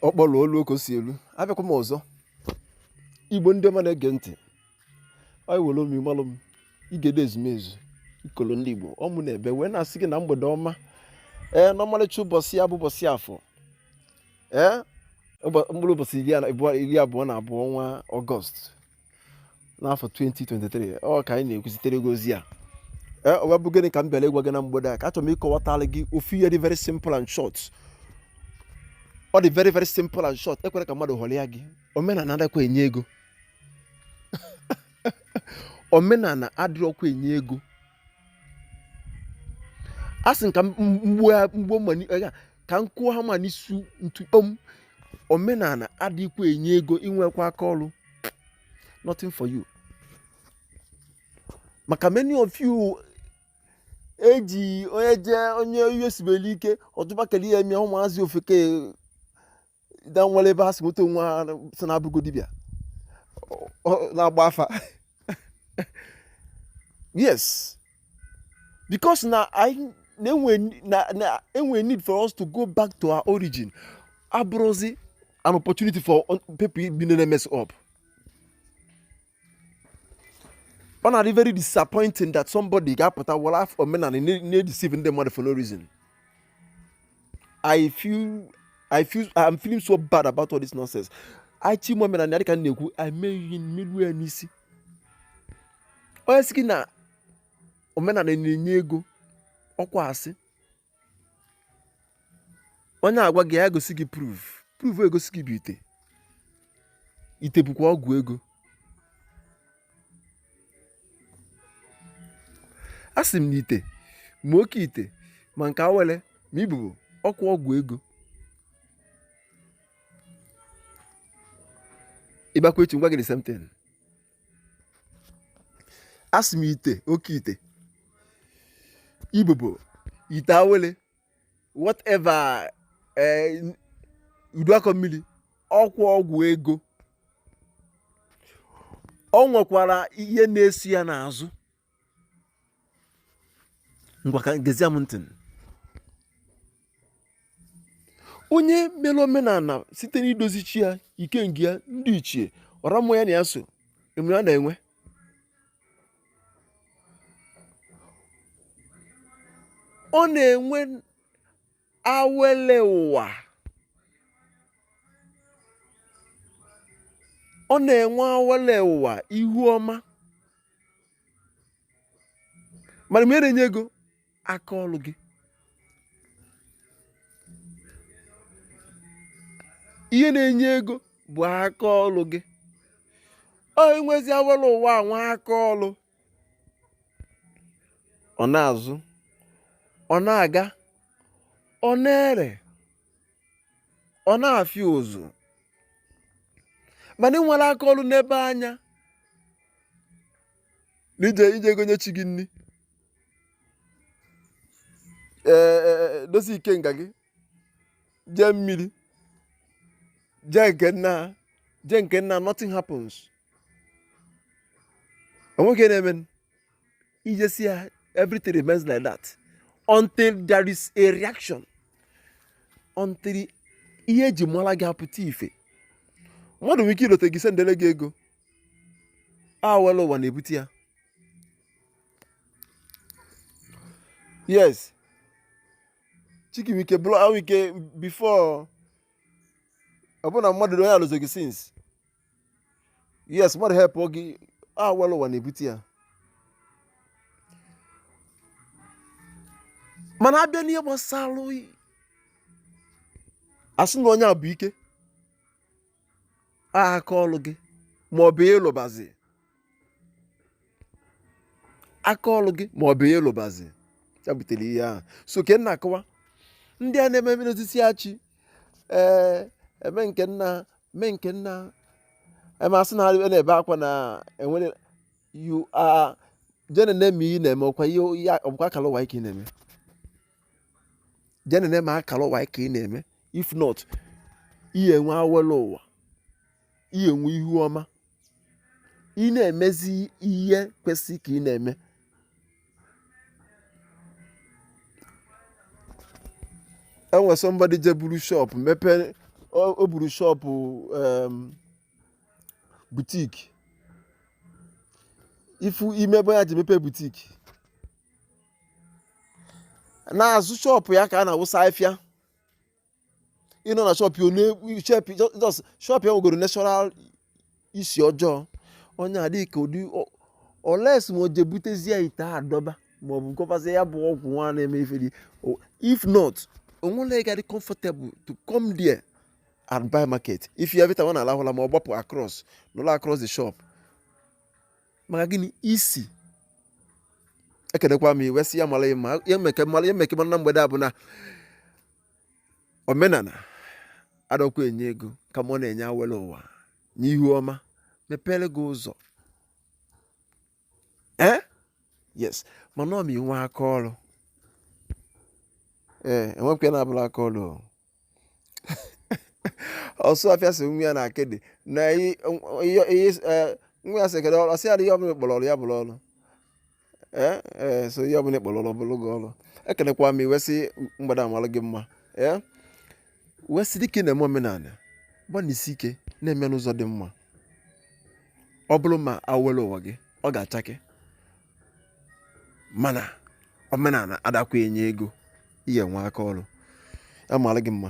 ọ kpọrọ olu oke si elu abịakwa m ọzọ igbo ndị ọma na-ege ntị anyị were omi malụ m igede ezumezu ikolo ndị igbo ọ mụ nọ ebe wee na-asị gị na mgbede ọma ee n'ọmarịcha ụbọchị a bụ ụbọchị afọ ee mkpụrụ ụbọchị iri abụọ na abụọ ọnwa august n'afọ 2023 ọ ka anyị na-ekwuzitere gị ozi a e, o wee bụ gịnị ka m bịara ịgwa gị na mgbede a ka achọrọ m ịkọwatara gị ofu ihe dị very simple and short ọ dị very very simple and short ekwela ka mmadụ ghọrịa gị omenala adịkwa enye ego omenala adịrọkwa enye ego a sị ka m gbuo mma eh, ka m kụọ hammer n'isi ntu kpọm omenala adịkwa enye ego i nwekwa aka ọrụ nothing for you maka many of you eji onye jee onye ihe sibere ike ọtụbakere ya mịa ụmụazị ofeke da nwere ebe ha si nweta onwe ha sị na abụrụgo dibịa na-agba afa yes because na e nwere need for us to go back to our origin abụrụzi an opportunity for people bịa na-emess up ọ na-adị very disappointing that somebody ga-apụta were afa omenala na-edeceive ndị mmadụ for no reason I feel I feel I'm feeling so bad about all this nonsense I chi mụ omenala dịka m na-ekwu I meghị mmelu ya n'isi onye sị gị na omenala na-enye ego ọkwa asị onye na-agwa gị ya gosi gị proof proof egosi gị bụ ite ite bụkwa ọgwụ ego asị m na ite ma oke ite ma nke awele ma ibobo ọkwa ọgwụ ego ị bịakwa echi m gwa gị the same thing asị m ite oke ite ibobo ite awele whatever eh, udu akọ mmiri ọkwa ọgwụ ego ọ nwekwara ihe na-esi ya n'azụ ngwa ka gezie m ntị onye mere omenala site n'idozi chi ya ikenga ya ndị ichie ọra mmụọ ya na ya so ị ma ihe ọ na-enwe ọ na-enwe awele ụwa ọ na-enwe awele ụwa ihu ọma mana ihe na-enye ego aka ọlụ gị ihe na-enye ego bụ aka ọlụ gị i nwezi awele ụwa nwee aka ọlụ ọ na-azụ ọ na-aga ọ na-ere ọ na-afịọ ụzụ mana i nwere aka ọlụ nebe anya na ị je-eje gọnye chi gị nri ee e, e, e, dozie ikenga gị jee mmiri jee nke nna jee nke nna nothing happens o nwe nke na-eme i jesịa everything remains like that until there is a reaction until ihe e ji mala gị apụta ife mmadụ nwere ike ilote gị sendele gị ego awele ụwa na-ebute ya yes chi gị wike blọ wike before ọ bụ na mmadụ onye elozọ gị since yes mmadụ help gị awele ụwa na-ebute ya mana a bịa n'ihe gbasalụ oyi a sị na onye a bụ ike aka ọlụ gị ma ọ bụ ihe ị lụbazi aka ọlụ gị ma ọ bụ ihe ị lụbazi ya butere ihe ahụ so ke nna akọwa ndị a na-eme mmiri osisi achị ee eme nke nna eme nke nna eme asị na na-ebe akwa na enwere you are jene na-eme ihe na-eme ọkwa ihe ọkwa akala ụwa gị ka ị na-eme jene na-eme akala ụwa gị ka ị na-eme if not ị ya-enwe awele ụwa ị ya-enwe ihu ọma ị na-emezi ihe kwesị ka ị na-eme o nwe somebody je buru shop mepee o buru shop butik ifu ime ebe ọ ya-eji mepee butik n'azụ shop ya ka a na-awụsa afịfịa ị nọ na shop ya ọ na-ekwu shop just shop ya nwegoro natural isi ọjọọ onye adịghị ka ụdị ọ- unless ma o je butezie ite a dọba ma ọ bụ gọbazie ya bụ ọgwụ nwa na-eme ife dị o- if not o nwero onye ga-adị comfortable to come there and buy market if every time ọ na-alahụ ụla ma ọ gbapụ across nọrọ across the shop maka gịnị isi ekenekwa m ị wee sị ya mara mma ya meke mara ya meke na mgbede a bụ na omenala adakwa enye ego kama ọ na-enye awele ụwa na ihu ọma mepere gị ụzọ ee eh? yes mana ọ ma i nwee aka ọrụ ee eh, enwepụta na abụla aka ọrụ Osuofia sị nwa ya na akịdị na i- ihe- ihe s- eh, nwa ya sị kedu ọrụ ọ sị ya na ihe ọbụla ị kpọrọ ọrụ ya bụrụ ọrụ ee ee so ihe ọbụla ị kpọrọ ọrụ ọ bụrụ gị ọrụ ekenekwa m ị wee sị mgbede a malụ gị mma ee wee sị dịka ị na-eme omenala gbanisi ike na-eme ya n'ụzọ dị mma ọ bụrụ ma awele ụwa gị ọ ga-achake mana omenala adakwa enye ego ị ga-enwe aka ọrụ ya mara gị mma